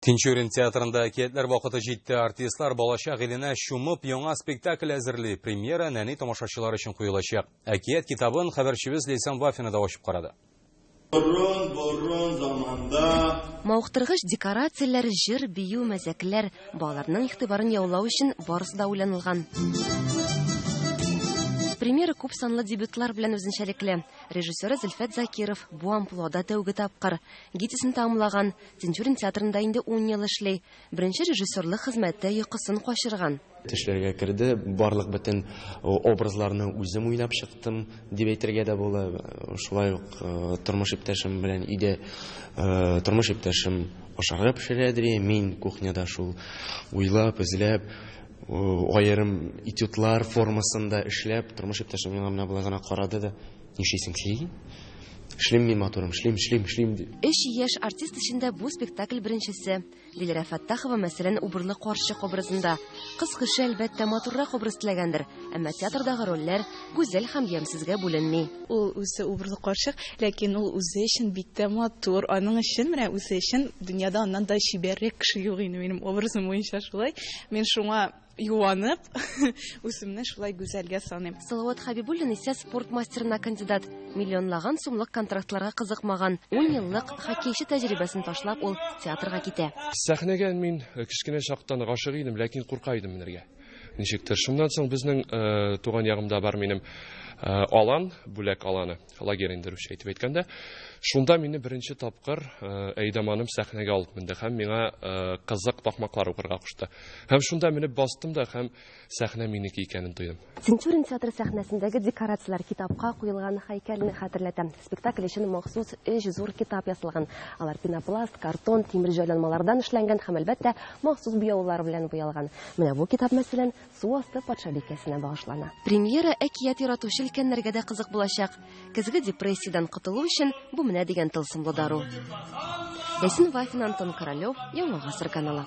Тинчурин театрында әкиятләр вакыты җитте. Артистлар балачак иленә чумып, яңа спектакль әзерли. Премьера нәни тамашачылар өчен куелачак. Әкият китабын хәбәрчебез Лейсан Вафина да ачып карады. Борын-борын заманда. Мавыктыргыч декорацияләр, җыр, бию, мәзәкләр, балаларның игътибарын яулау өчен барысы да уйланылган. Премьера күп санлы дебютлар белән үзенчәлекле. Режиссеры Зөлфәт Закиров бу амплуада тәүге тапкыр. Гитисын тәмамлаган, Тинчурин театрында инде ун ел эшли. Беренче режиссерлык хезмәттә йокысын качырган. Төшләргә керде, барлык бөтен образларны үзем уйнап чыктым, дип әйтергә дә була. Шулай ук тормыш иптәшем белән өйдә, тормыш иптәшем ашарга пешерә дри, мин кухняда шул уйлап, эзләп, аерым этюдлар формасында эшләп, тормыш иптәшем миңа менә болай гына карады да, Нишлисең, сөйлим. Эшлим мин, матурым, эшлим, эшлим, эшлим, ди. Өч яшь артист эчендә бу спектакль беренчесе. Диләрә Фәттахова, мәсәлән, убырлы карчык образында. Кыз кеше, әлбәттә, матуррак образ теләгәндер, әмма театрдагы рольләр гүзәл һәм ямьсезгә бүленми. Ул үзе убырлы карчык, ләкин ул үзе өчен бик тә матур. Аның өчен, менә үзе өчен дөньяда аннан да чибәррәк кеше юк инде, минем образым буенча шулай. Мин шуңа Юанып, үземне шулай гүзәлгә саныйм. Салават Хәбибуллин исә спорт мастерына кандидат. Миллионлаган сумлык контрактларга кызыкмаган. Ун еллык хоккейчы тәҗрибәсен ташлап, ул театрга китә. Сәхнәгә мин кечкенә чактан гашыйк идем, ләкин курка идем менергә. Ничектер. Шуннан соң безнең туган ягымда бар минем Алан, Бүләк Аланы. лагерь инде русча итеп әйткәндә. Шунда мине беренче тапкыр э, Әйдаманым сәхнәгә алып менде һәм миңа э, кызык такмаклар укырга кушты. Һәм шунда менеп бастым да һәм сәхнә минеке икәнен тойдым. Тинчурин театры сәхнәсендәге декорацияләр китапка куелган һәйкәлне хәтерләтә. Спектакль өчен махсус өч зур китап ясалган. Алар пенопласт, картон, тимер җайланмалардан эшләнгән һәм әлбәттә махсус буяулар белән буялган. Менә бу китап мәсәлән Су асты патшабикәсенә багышлана. Премьера әкият яратучы өлкәннәргә дә кызык булачак. Көзге депрессиядән котылу өчен бу менә дигән тылсымлы дару. Ясин Вафин, Антон Королев, Яңа гасыр каналы.